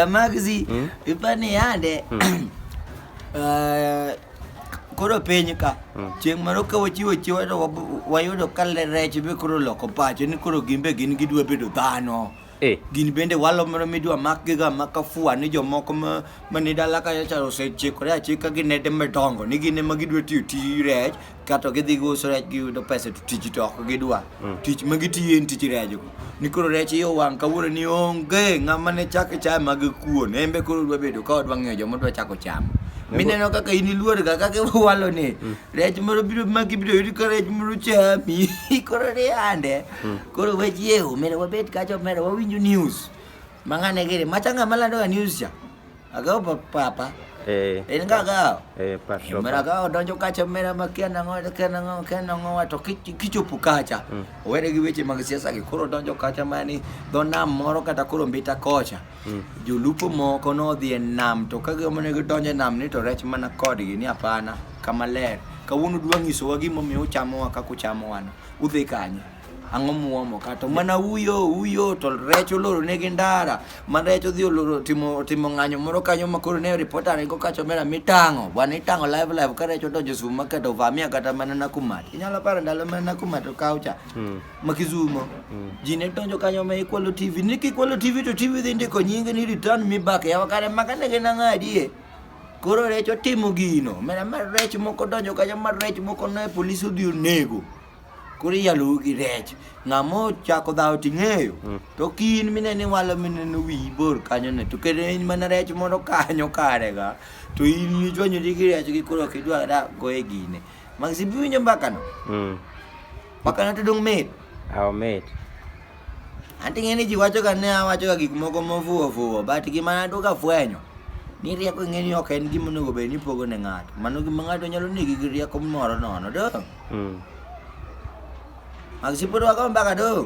Magzi, hmm? ipani yande. Hmm. Eh, koro piny ka hmm. chieng' moro ka wachiwo chiwa to wayudo ka rech be koro loko pacho ni koro gimbe gin gidwa bedo dhano Eh. Gin bende walo moro midwa makgiga maka fua ni jomoko ma, ma ni dala kacha cha osechikore achika gi nede madongo ni gin ema gidwa tiyo tij rech kato gidhi giuso rech giyudo pesa to tich to ok gidwa tich ma gitiyo en tich rejgo ni koro rech iyo wang' kawuono ni onge ng'ama ne chak chaye mag kuon en be koro dwa bedo ka odwa ng'eyo joma dwa chako chamo mineno kaka in iluorga kaka iwalo ni rech moro biro maki biro yudi ka rech moro chami koro ni ande Hmm. Koro we jieu, omera wabet kacha omera wawinjo news. Mang'ane gere, machanga malando ga news cha. Agao papa. Eh. En ga ga. Eh, pastor. Omera ga donjo kacha omera makia na ngo, kia na ngo, kia na ngo to kichopo kacha. Hmm. Owere gi weche mag siasa gi koro donjo kacha mani do nam moro kata koro mbita kocha. Hmm. Jolupo moko nodhi e nam to ka gimone gidonjo e nam ni to rech mana kodgi ni hapana kama ler. Kawuono dwa nyisowa gimomiyo uchamowa kaka uchamowa no. Udhi kanye? Ang'o muomo kato? Mana uyo uyo to rech oloro negi ndara. Ma rech odhi oloro timo timo ng'anyo moro kanyo ma koro ne reporter ne go kacho mera mitang'o. Bwana itang'o live live ka rech odonjo sum ma kato vamia kata mana na kumat. Inyalo paro ndalo mana na kumat to kaucha. Ma kizumo. Ji ne donjo kanyo ma ikwalo TV. Ni kikwalo TV to TV dhi ndiko nyinge ni return me back. Yawa kare maka ne gin ang'adie. Koro rech otimo gino. Mera mar rech moko donjo kanyo mar rech moko ne polis odhi onego. Koro iyalo gi rech. Ng'amo chako dhawo ting'eyo. Mm. To kin minene walo minene wi bor kanyo ne. To kendo in mana rech moro kanyo kare ga. To in ichwanyo gi rech gi koro kidwa da go e gine. Magsi biwinjo mbaka no. Mm. Mbaka no to dong mit. Aw mit. Anti ng'eni ji wacho ga ne awacho ga gik moko mofuwo fuwo but gima naduog afwenyo ni rieko ng'eni ok en gima onego bed ni ipogo ne ng'ato. Mano gima ng'ato nyalo negi gi rieko moro nono dong. Mm. Mag sipod wago mbaka dong.